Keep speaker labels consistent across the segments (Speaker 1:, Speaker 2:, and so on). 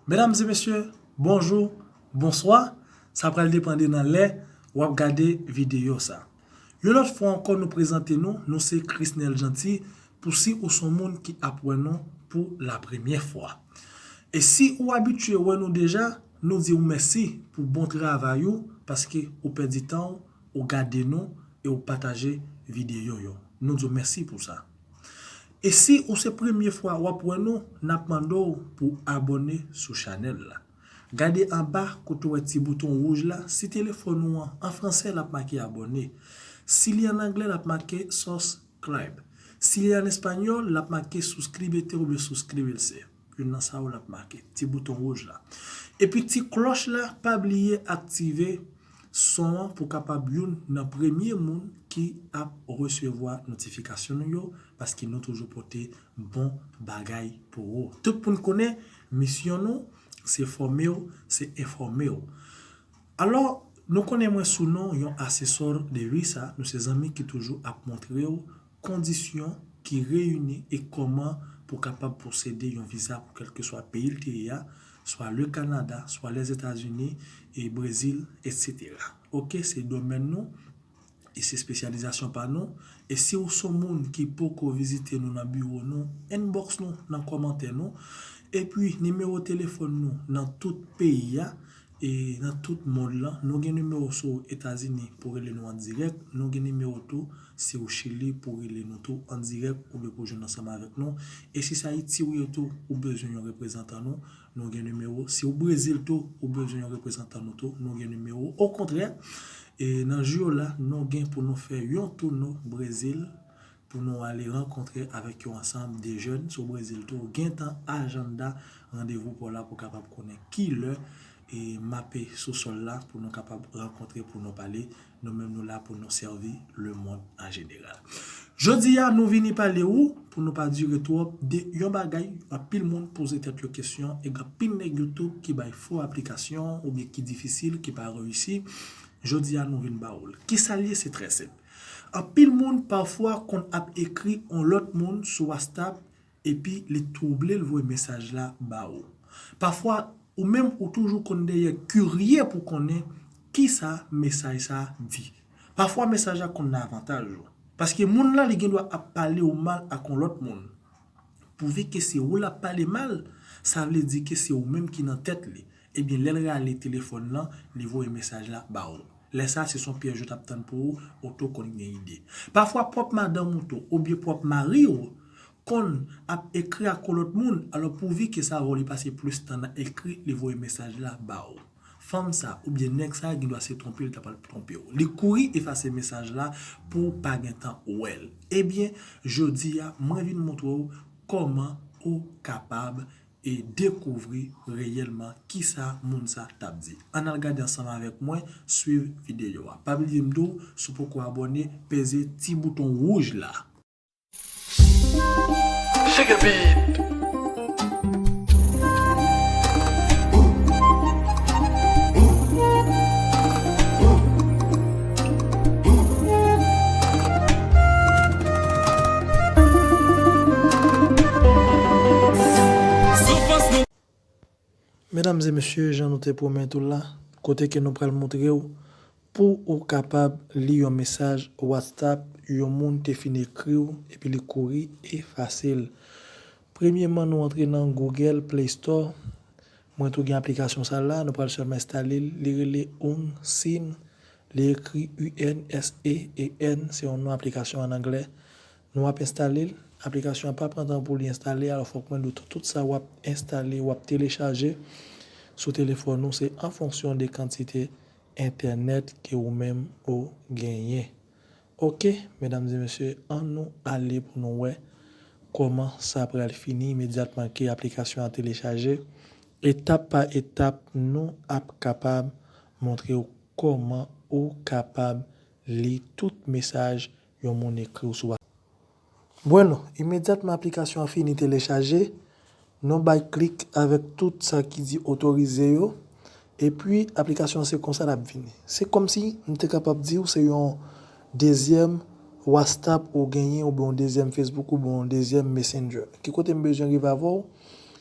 Speaker 1: Medam e mesye bonjou, bonswa, sa pral depan de nan lè wap gade videyo sa. Yon lòt fwa ankò nou prezante nou, nou se Chrisnel Jeanty pou si ou son moun ki ap wè nou pou la premyè fwa. E si ou abitye wè nou deja, nou diw mèsi pou bon travay ou paske ou pèdi tanw ou gade nou e ou pataje videyo yo. Nou diw mèsi pou sa. E si ou se premye fwa wap wè nou nap mande w pou abòne sou chanèl la. Gade anba kote ou wè ti bouton wouj la si telefòn ou an an fransè lap make abòne si li an anglè lap make sus cribe si li an espanyòl lap make suscribete oubyen suscribirse. Youn nan sa yo lap make. Ti bouton wouj la. Epi ti klòch la pa bliye aktive son an pou kapab youn nan premye moun ki ap resevwa notifikasyon nou yo paske nou toujou pote bon bagay pou ou. Tout moun konnen misyon nou se fòme w, se enfòme w. Alò nou konnen mwen sou non yon asesò de Usa, nou se zanmi ki toujou ap montre w. Kondisyon ki reyini e kòman pou kapab posede yon viza pou kèlkeswa peyi l te ye a, swa le Kanada, swa Lèzetazini, e Brezil, etsetera. Ok, se domèn nou e se spesyalizasyon pa nou, e si ou son moun ki poko vizite nou nan biwo nou, inbox nou nan kòmantè nou, epi nimewo telefòn nou nan tout peyi a, E nan tout mond lan, nou gen nimewo si w Etazini pou rele nou an dirèk, nou gen nimewo tou si w Chili pou rele nou tou an dirèk oubyen pou jwenn ansanm avèk nou. E si se Ayiti ou ye tou, ou bezwen yon reprezantan nou, nou gen nimewo. Si w Brezil tou, ou bezwen yon reprezantan nou tou, nou gen nimewo. Okontrè, e nan jou yo la, nou gen pou nou fè yon touno Brezil, pou nou ale rankontre avèk yon ansanm de jèn sou Brezil tou gentan ajanda randevou paw la pou kapab konnen kilè e mape sou sòl la pou nou kapab rankontre pou nou pale nou menm nou la pou nou sèvi lemond an jeneral jodi a nou vini pale ou pou nou pa dire twòp de yon bagay anpil moun poze tèt yo kesyon e gen anpil nèg yo tou ki bay fo aplikasyon oubyen ki difisil ki pa reyisi jodi a nou vin ba ou l kisa l ye se trè senp. Anpil moun pafwa konn ap ekri on lòt moun sou wastap epi li twouble l voye mesaj la ba ou. Pafwa ou menm ou toujou konn dèyè kirye pou konnen kisa mesaj sa di. Pafwa mesaj la konn nan avantaj ou. Paske moun lan li gendwa ap pale ou mal ak on lòt moun. Pou vi ke se ou l ap pale mal, sa vle di ke se ou menm ki nan tèt li. Ebyen lèl rale telefòn lan li voye mesaj la ba ou. Lè sa se son pyèj yo tap tann pou ou, ou tou konn gen ide. Pafwa pwòp madanm ou tou oubyen pwòp mari ou konn ap ekri ak yon lòt moun alò pou vi ke sa va ou li pase plis tan nan ekri li voye mesaj la ba ou. Fanm sa oubyen nèg sa gen dwa se twonpe li ta pral twonpe ou. Li kouri efase mesaj la pou ou pa gen tan wèl. Ebyen jodi a mwen vin montre ou kòman ou kapab e dekouvri reyèlman kisa moun sa tap di. Ann al gade ansanm avèk mwen, swiv videyo a. Pa bliye m di w, si w poko abòne, peze ti bouton wouj la. Medam e mesye jan nou te pwomèt ou la kote ke nou pral moutrew pou ou kapab li yon mesaj whatsapp yon moun te fin ekriw epi li kouri efasel premyeman nou antre nan google play store Mwen tou gen aplikasyon sa la nou pral sèlman enstale l li rele Ung Sin li ekri UNSEEN se yon non aplikasyon an anglè nou ap enstale l aplikasyon an pa pran tan pou li enstale alò fòk mwen di w tou tout sa wap enstale wap telechaje sou telefòn ou se an fonksyon de kantite entènèt ke ou menm ou genyen Ok medam e mesye an nou ale pou nou wè koman sa pral fini imedyatman ke aplikasyon an telechaje etap pa etap nou ap kapab montrew koman ou kapab li tout mesaj yon moun ekriw sou Bueno, imedyatman aplikasyon an fini telechaje, nou bay klik avèk tout sa ki di otorize yo, epi aplikasyon an se konsa l ap vini. Se kòmsi m te kapab di ou se yon dezyèm Wastap ou genyen oubyen yon dezyèm Facebook oubyen yon dezyèm Messenger. Ki kote m bezwen rive avè w,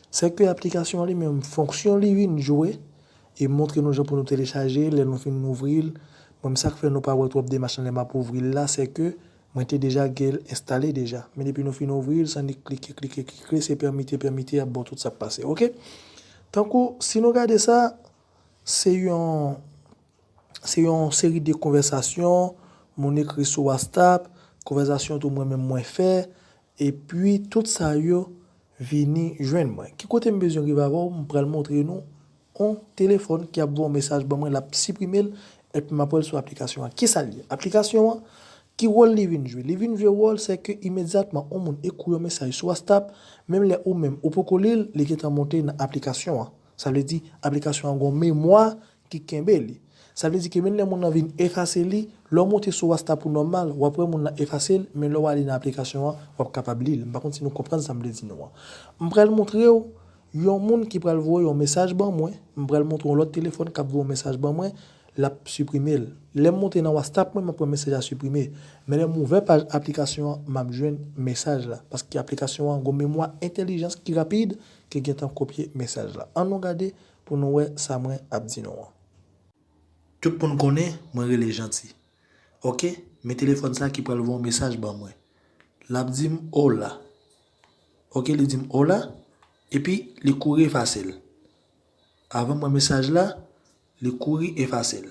Speaker 1: se ke aplikasyon an li menm fonksyon li vin jwe, e montre nou jan pou nou telechaje, lè nou fin ouvri l, bon sa k fè nou pa wè twòp demach nan lè m ap ouvri l la, se ke Mwen te deja gel enstale deja. Men depi nou fin ouvril san nik klike klike klikle se pèmite pèmite yap baw tout sak pase ok. Tankou si nou gade sa se yon se yon seri de konvèsasyon moun ekri sou wastap konvèsasyon tou mwen menm mwen fè Epi tout sa yo vini jwenn mwen. Ki kote m bezwen rive avè w, m pral montre nou on telefòn ki ap voye on mesaj ban mwen, l ap siprime l, epi m ap wè l sou aplikasyon an. Kisa l ye? Aplikasyon an, ki wòl li vin jwe? Li vin jwe wòl se ke imedyatman on moun ekri w yon mesaj sou wastap, menm lè ou menm ou poko li l, li gentan monte nan aplikasyon an. Sa vle di, aplikasyon an gen yon memwa ki kenbe li. Sa vle di ke menn lè moun lan vin efase li, lè w monte sou wasta pou nòmal, w ap wè moun lan efase l, men lè w ale nan aplikasyon an, w ap kapab li l. M pa konn si nou konprann sa m vle di nou an. M pral montre w yon moun ki pral voye yon mesaj ban mwen, m pral montre w yon lòt telefòn k ap voye yon mesaj ban mwen, l ap siprime l. Lè m monte nan wastap mwen, m ap wè mesaj la siprime. Men lè m ouvè paj aplikasyon an, m ap jwenn mesaj la. Paske aplikasyon an gen yon memwa entèlijans ki rapid, ki gentan kopye mesaj la. An nou gade Pou nou wè sa mwen ap di nou an. Tout moun konnen mwen rele Janti. Ok, men telefòn sa ki pral voye yon mesaj ban mwen. L ap di m Ola. Ok, li di m Ola, epi li kouri efase l. Avan m wè mesaj la, li kouri efase l.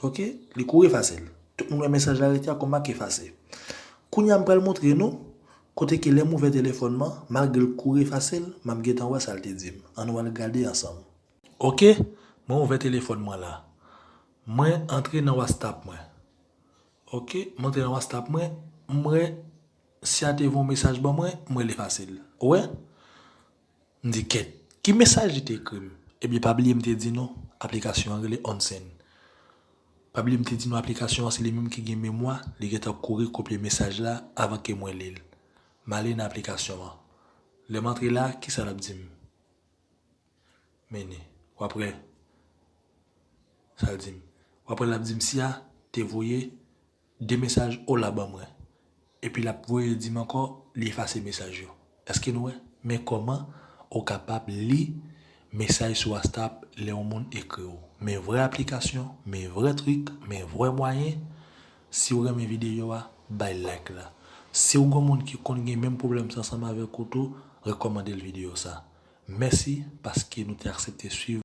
Speaker 1: Ok li kou efase l. Tout moun wè mesaj la rete a kou mak efase. Kounya m pral montre nou kote ke lè m ouvè telefòn man malgre l kou efase l map gentan wè sa l te di m. An nou al gade ansanm. Ok mwen ouvè telefòn mwen la. Mwen antre nan wastap mwen. Ok m antre nan wastap mwen m wè Siya te voye yon mesaj ban mwen m wè l efase l. Ou wè? M di, Kèt, ki mesaj li te ekri m? Ebyen, pa bliye m te di nou, aplikasyon an rele Onsen. Pa bliye m te di nou aplikasyon an se li menm ki gen memwa, li gentan kouri kopye mesaj la avan ke mwen li l. M ale nan aplikasyon an. Lè m antre la, kisa l ap di m? Mene, w ap wè sa l di m. W ap wè l ap di m, Siya te voye 2 mesaj Ola ban mwen. Epi lap voye dim ankò li efase mesaj yo. Eske nou wè? Men kòman ou kapab li mesaj sou wastap lè yon moun ekri w. Men vrè aplikasyon, men vrè trik, men vrè mwayen. Si w renmen videyo a, bay like la. Si w gen yon moun ki konn gen menm pwoblèm sa ansanm avèk ou tou, rekòmande l videyo sa. Mèsi paske nou te aksepte swiv.